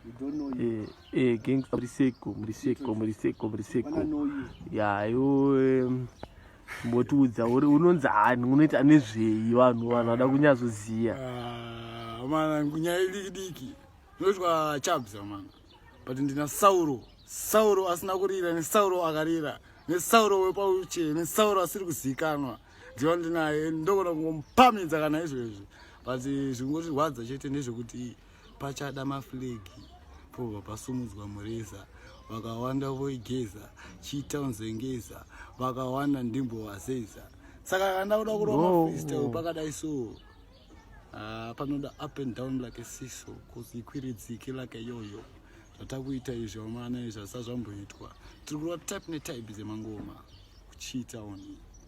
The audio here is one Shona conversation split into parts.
You don't know him. Eh, eh, gangster Mriseko, Mriseko, Mriseko, Mriseko. Wanna know you. Ya, yo em, mbotiudza uri unonzi hani unoita nezvei vanhu vanhu vada kunyazoziya. Ah, mana nyaya idiki diki ndotwa chabza mana but ndina sauro sauro asina kurira nesauro akarira nesauro wepauche nesauro asiri kuzivikanwa ndiva ndinaye ndogona kungomupamidza kana izvezvi but zvikungotirwadza chete ndezvekuti pachada maflegi pobva pasumudzwa mureza vakawanda voigeza chiita unzengeza vakawanda ndimbo vazeza saka kanda kuda kurova freestyle pakadai so ah, panoda up and down like a siso cause ikwiridzike like a yoyo zvatakuita izvi vamana izvi asazvamboitwa tiri kurova type netype dzemangoma kuchiita oni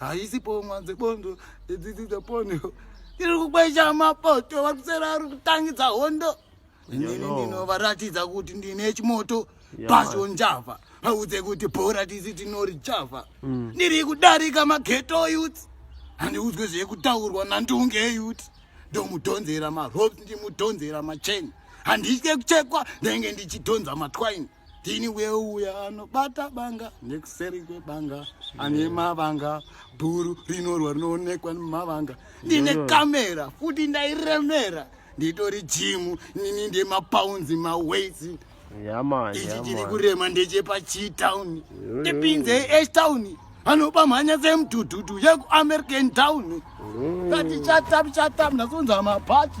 haisi pomwa dzebondo idzidzi dzepondo iri kukwesha mapoto vakusera ari kutangidza hondo inini ndinovaratidza kuti ndine chimoto pasho njava vaudze kuti bhora tisi tinori java mm. ndiri kudarika mageto yut handiudzwe zvekutaurwa nandunge yut ndomudhonzera marops ndimudhonzera macheni handitye kuchekwa ndenge ndichidhonza matwaini Dini weuya anobata banga nekuseri kwebanga ane mavanga bhuru rinorwa rinoonekwa nemavanga ndine kamera futi ndairemera nditori jimu nini ndemapaunzi maweights ichi chiri kurema ndechepachitown ndipinze etown anoba mhanya semudhudhudhu yekuamerican town kati chatam chatam ndasonza mabhachi